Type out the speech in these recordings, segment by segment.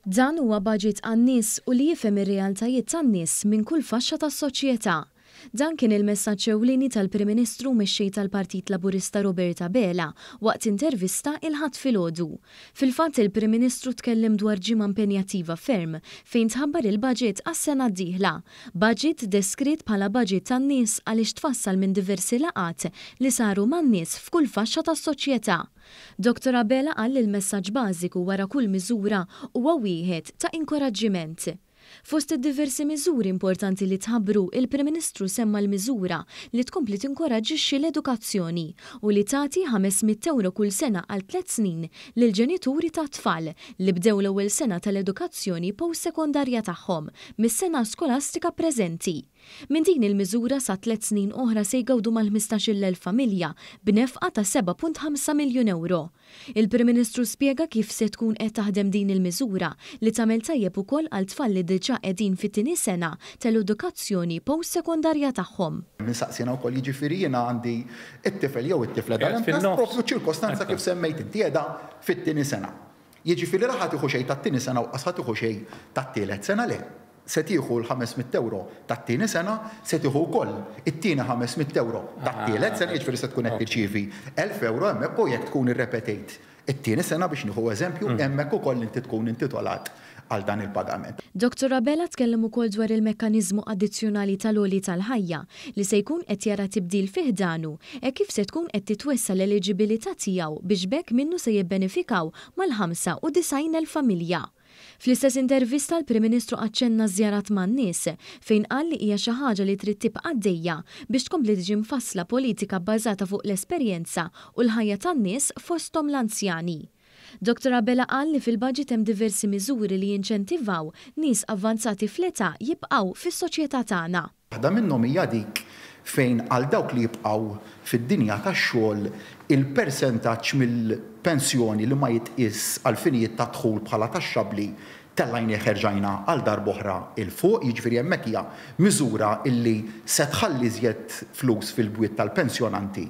Dan huwa baġit għan-nies u li jifhem ir-realtajiet tan-nies minn kull faxxa tas-soċjetà. Dan kien il-messaġġ ewlieni tal-Prim Ministru mexxej tal-Partit Laburista Robert Abela waqt intervista il-Ħadd filgħodu. Fil-fatt il-Prim Ministru tkellem dwar ġimgħa impenjattiva ferm fejn tħabbar il-baġit għas-sena d-dieħla. Baġit deskritt bħala baġit tan-nies għaliex tfassal minn diversi laqgħat li saru man-nies f'kull faxxa tas-soċjetà. Dottor Abela qal li l-messaġġ bażiku wara kull miżura huwa wieħed ta' inkoraġġiment. Fost id-diversi miżuri importanti li tħabbru, il-Prim Ministru semma l-miżura li tkompli tinkoraġġixxi l-edukazzjoni u li tagħti ħames mitt ewro kull sena għal tliet snin lill-ġenituri tat-tfal li bdew l-ewwel sena tal-edukazzjoni post-sekondarja tagħhom mis-sena skolastika preżenti. Minn din il-miżura sa tliet snin oħra se jgawdu mal-ħmistax-il elf familja b'nefqa ta' seba' punt ħamsa miljun ewro. Il-Prim Ministru spjega kif se tkun qed taħdem din il-miżura li tagħmel tajjeb ukoll għal tfal li diġà qegħdin fit-tieni sena tal-edukazzjoni post-sekondarja tagħhom. Min saqsiena wkoll jiġifieri jiena għandi t-tifel jew it-tifla dan hemm taħt proprju ċ-ċirkostanza kif semmejt inti qiegħda fit-tieni sena. Jiġifieri la ħa tieħu xejn tat-tieni sena u qas ħa tieħu xejn tat-tielet sena le. se tieħu l-ħames mitt ewro tat-tieni sena, se tieħu wkoll it-tieni ħames mitt ewro tat-tielet sena, jiġifieri se tkun qed tirċievi elf ewro hemmhekk u jekk tkun irrepetejt it-tieni sena, biex nieħu eżempju, hemmhekk ukoll inti tkun intitolat għal dan il-pagament. Dottor Abela tkellem ukoll dwar il-mekkaniżmu addizzjonali tal-għoli tal-ħajja li se jkun qed jara tibdil fi ħdanu hekk kif se tkun qed titwessa' l-eliġibilità tiegħu biex b'hekk minnu se jibbenefikaw mal-ħamsa u disgħin elf familja. Fl-istess intervista l-Prim Ministru aċċenna ż-żjarat man-nies, fejn qal li hija xi ħaġa li trid tibqa' għaddejja biex tkompli tiġi mfassla politika bbażata fuq l-esperjenza u l-ħajja tan-nies fosthom l-anzjani. Dottor Abela qal li fil-Budget hemm diversi miżuri li jinċentivaw nies avvanzati fl-età jibqgħu fis-soċjetà tagħna. Waħda minnhom hija dik fejn għal dawk li jibqgħu fid-dinja tax-xogħol il-persentaġġ mill-pensjoni li ma jitqies għall-finijiet tad-dħul bħala taxxabbli tellgħinih erġajna għal darb'oħra 'l fuq, jiġifieri hemmhekk hija miżura li se tħalli iżjed flus fil-bwiet tal-pensjonanti.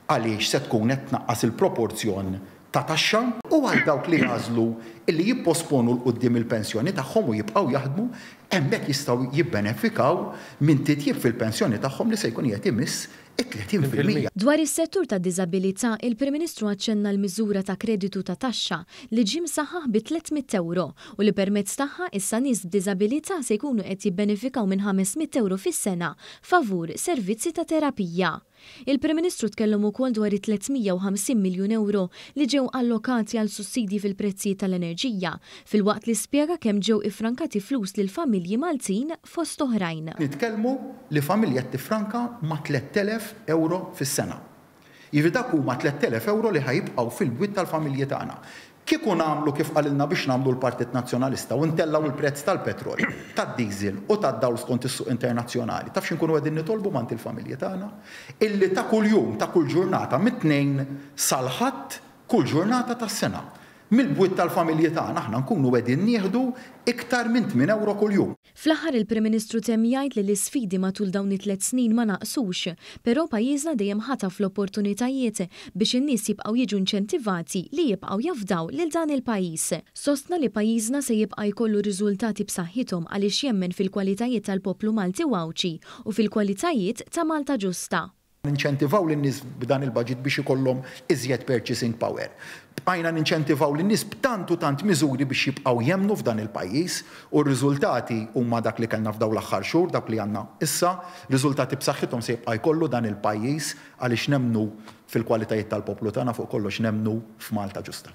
għaliex se tkun qed tnaqqas il-proporzjon ta' taxxa, u għal dawk li jagħżlu li jipposponu 'l quddiem il-pensjoni tagħhom u jibqgħu jaħdmu, hemmhekk jistgħu jibbenefikaw minn titjib fil-pensjoni tagħhom li se jkun qiegħed imiss it-30 fil-mija. Dwar is-settur tad-diżabilità, il-Prim Ministru aċċenna l-miżura ta' kreditu ta' taxxa li ġie msaħħaħ bi tliet mitt ewro u li permezz tagħha issa nies b'diżabilità se jkunu qed jibbenefikaw minn ħames mitt ewro fis-sena favur servizzi ta' terapija. Il-Prim Ministru tkellem ukoll dwar it-350 miljun ewro li ġew allokati għal sussidji fil-prezzijiet tal-enerġija, filwaqt li spjega kemm ġew iffrankati flus lil familji Maltin fost oħrajn. Nitkellmu li familja qed tiffranka ma' 3,000 ewro fis-sena. Jiġifieri dak huma 3,000 ewro li ħa jibqgħu fil-bwiet tal-familji tagħna. Kieku nagħmlu kif qalilna biex nagħmlu l-Partit Nazzjonalista u ntellgħu l-prezz tal-petrol, tad-diesel u tad-dawl skont is-suq internazzjonali, taf xi nkunu qegħdin nitolbu m'għand il-familji tagħna? Illi ta' kuljum, ta' kull ġurnata, mit-Tnejn sal-Ħadd, kull ġurnata tas-sena, mill-bwiet tal-familji tagħna aħna nkunu qegħdin nieħdu iktar minn tmien ewro kuljum. Fl-aħħar il-Prim Ministru temm jgħid li l-isfidi matul dawn it-tliet snin ma naqsux, però pajjiżna dejjem ħataf l-opportunitajiet biex in-nies jibqgħu jiġu inċentivati li jibqgħu jafdaw lil dan il-pajjiż. Sostna li pajjiżna se jibqa' jkollu riżultati b'saħħithom għaliex jemmen fil-kwalitajiet tal-poplu Malti u Għawdxi u fil-kwalitajiet ta' Malta ġusta. Ninċentivaw lin-nies b'dan il-budget biex ikollhom iżjed purchasing power. Bqajna ninċentivaw lin-nies b'tant u tant miżuri biex jibqgħu jemmnu f'dan il-pajjiż u r-riżultati huma dak li kellna f'dawn l-aħħar xhur, dawk li għandna issa. Riżultati b'saħħithom se jibqa' jkollu dan il-pajjiż għaliex nemmnu fil-kwalitajiet tal-poplu tagħna, fuq kollox nemmnu f'Malta ġusta.